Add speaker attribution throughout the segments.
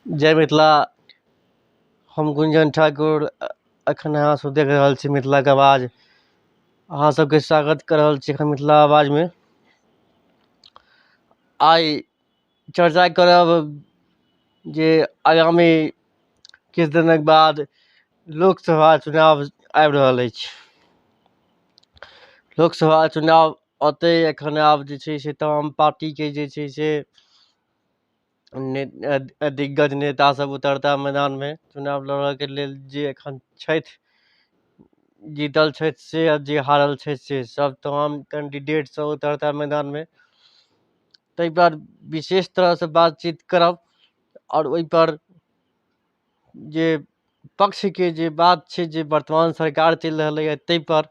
Speaker 1: जय मिथिला हम गुंजन ठाकुर एखन अहाँ सब देख रहल छी मिथिला के आवाज अहाँ सबके स्वागत कऽ रहल छी एखन मिथिला आवाज मे आइ चर्चा करब जे आगामी किछु दिनक बाद लोकसभा चुनाव आबि रहल अछि लोकसभा चुनाव औतै एखन आब जे छै से तमाम पार्टी के जे छै से दिग्गज नेता सब उतरता मैदानमे चुनाव लड़ऽके लेल जे एखन छथि जीतल छथि से आओर जे हारल छथि से सब तमाम कैंडिडेट सब उतरता मैदानमे तै पर विशेष तरहसँ बातचीत करब आओर ओइपर जे पक्षके जे बात छै जे वर्तमान सरकार चलि रहलैये तैपर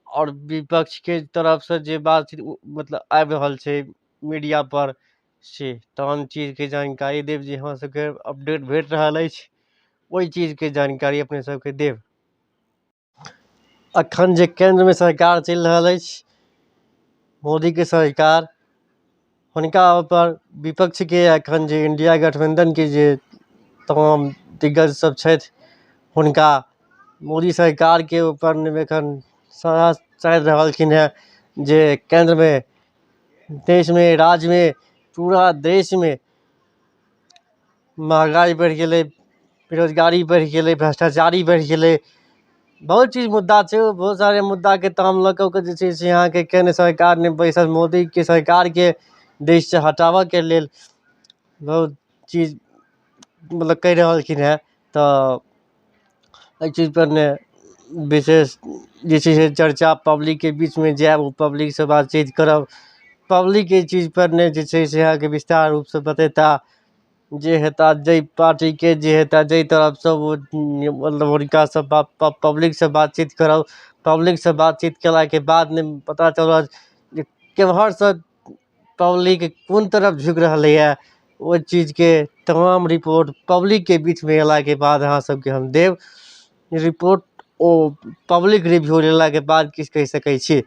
Speaker 1: आओर विपक्षके तरफसँ जे बात छै मतलब आबि रहल छै मीडियापर से तहन चीजके जानकारी देब जे हमरा सभके अपडेट भेट रहल अछि ओहि चीजके जानकारी अपने सभकेँ देब एखन जे केन्द्रमे सरकार चलि रहल अछि मोदीके सरकार हुनका ओहिपर विपक्षके एखन जे इण्डिया गठबन्धनके जे तमाम दिग्गजसभ छथि हुनका मोदी सरकारके ऊपर एखन सारा चाड़ि रहलखिन हेँ जे केन्द्रमे देशमे राज्यमे पूरा देशमे महँगाइ बढ़ि गेलै बेरोजगारी बढ़ि गेलै भ्रष्टाचारी बढ़ि गेलै बहुत चीज मुद्दा छै ओ बहुत सारे मुद्दाके ताम लऽ कऽ ओकर जे छै से अहाँके केन्द्र सरकार नहि बैसल मोदीके सरकारके देशसँ हटाबयके लेल बहुत चीज मतलब कहि रहलखिन हेँ तऽ एहि चीज पर मे विशेष जे छै से चर्चा पब्लिकके बीचमे जायब ओ पब्लिक से बातचीत करब पब्लिक एहि चीज पर नहि जे छै से अहाँके विस्तार रूपसँ बतेता जे हेता जाहि पार्टीके जे हेता जाहि तरफसँ ओ मतलब हुनका से प प पब्लिक से बातचीत करब पब्लिक से बातचीत केलाके बाद नहि पता चलत जे केम्हरसँ पब्लिक कोन तरफ झुकि रहलैए ओहि चीजके तमाम रिपोर्ट पब्लिकके बीचमे अयलाके बाद अहाँ सभकेँ हम देब रिपोर्ट ओ पब्लिक रिव्यू लेलाके बाद किछु कहि सकै छी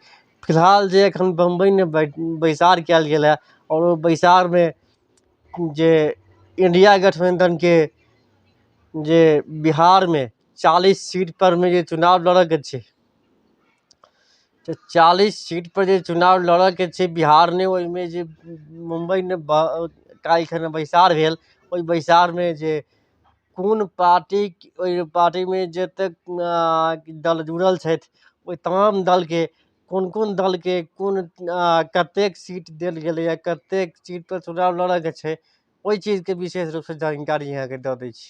Speaker 1: फिलहाल जे एखन बम्बइमे बै बैसार कयल गेल हए आओर ओ बैसारमे जे इंडिया गठबन्धनके जे बिहारमे चालीस सीटपर मे जे चुनाव लड़यके छै तऽ चालीस सीटपर जे चुनाव लड़यके छै बिहारमे ओहिमे जे मुम्बइमे काल्हि खिना बैसार भेल ओहि बैसारमे जे कोन पार्टी ओहि पार्टीमे जतेक दल जुड़ल छथि ओहि तमाम दलके कोन कोन दलके कोन कतेक सीट देल गेलैए कतेक सीटपर चुनाव लड़यके छै ओहि चीजके विशेष रूपसँ जानकारी अहाँकेँ दऽ दै छी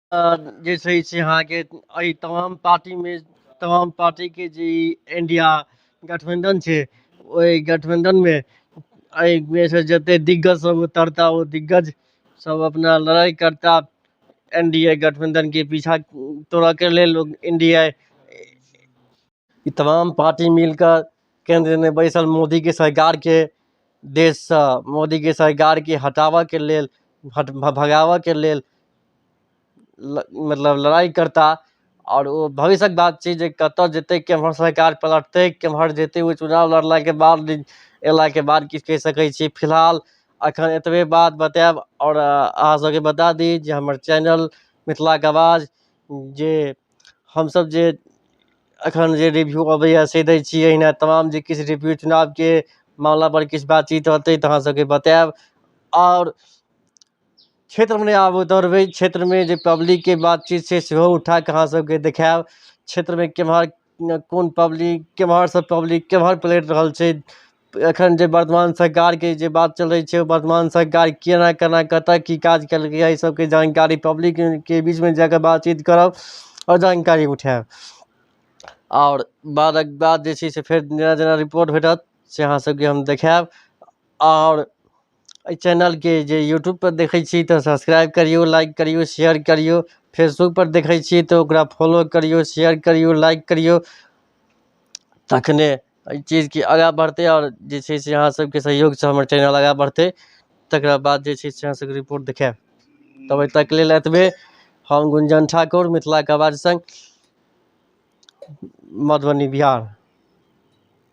Speaker 1: जे छै से अहाँके एहि तमाम पार्टीमे तमाम पार्टीके जे ई इण्डिया गठबन्धन छै ओहि गठबन्धनमे एहिमे सँ जतेक दिग्गजसभ उतरता ओ दिग्गजसभ अपना लड़ाइ करता एन डी ए गठबन्धनके पीछा तोड़यके लेल लोक इण्डिया ई तमाम पार्टी मिल कऽ केन्द्रमे बैसल मोदीके सरकारके देशसँ मोदीके सरकारके हटाबयके लेल हट भगाबयके लेल ल मतलब लड़ाइ करताह आओर ओ भविष्यक बात छै जे कतय जेतै केम्हर सरकार पलटतै केम्हर जेतै ओ चुनाव लड़लाके बाद अयलाके बाद किछु कहि सकै छी फिलहाल एखन एतबे बात बतायब आओर अहाँसभकेँ बता दी जे हमर चैनल मिथिलाके आवाज जे हमसभ जे एखन जे रिव्यू अबैए से दै छियै एहिना तमाम जे किछु रिव्यू चुनावके मामलापर किछु बातचीत रहतै तऽ अहाँसभकेँ बतायब आओर क्षेत्रमे नहि आबय दौड़बै क्षेत्रमे जे पब्लिकके बातचीत छै सेहो उठा कऽ अहाँसभकेँ देखायब क्षेत्रमे केम्हर कोन पब्लिक केम्हरसँ पब्लिक केम्हर पलटि रहल छै एखन जे वर्तमान सरकारके जे बात चलै छै वर्तमान सरकार केना केना कतऽ की काज केलकै एहि सबके जानकारी पब्लिकके बीचमे जाकऽ बातचीत करब आओर जानकारी उठायब आओर बादक बाद जे छै से फेर जेना जेना रिपोर्ट भेटत से अहाँ सबके हम देखायब आओर एहि चैनलके जे यूट्यूब पर देखै छी तऽ सब्सक्राइब करियौ लाइक करियौ शेयर करियौ फेसबुक पर देखै छी तऽ ओकरा फॉलो करियौ शेयर करियौ लाइक करियौ तखने अइ चीजके आगा बढ़तै आओर जे छै से अहाँ सबके सहयोगसँ हमर चैनल आगा बढ़तै तकरा बाद जे छै से अहाँ सबके रिपोर्ट देखायब तब अइ तक लेल एतबे हम गुंजन ठाकुर मिथिलाके आवाज सङ्ग मधुबनी बिहार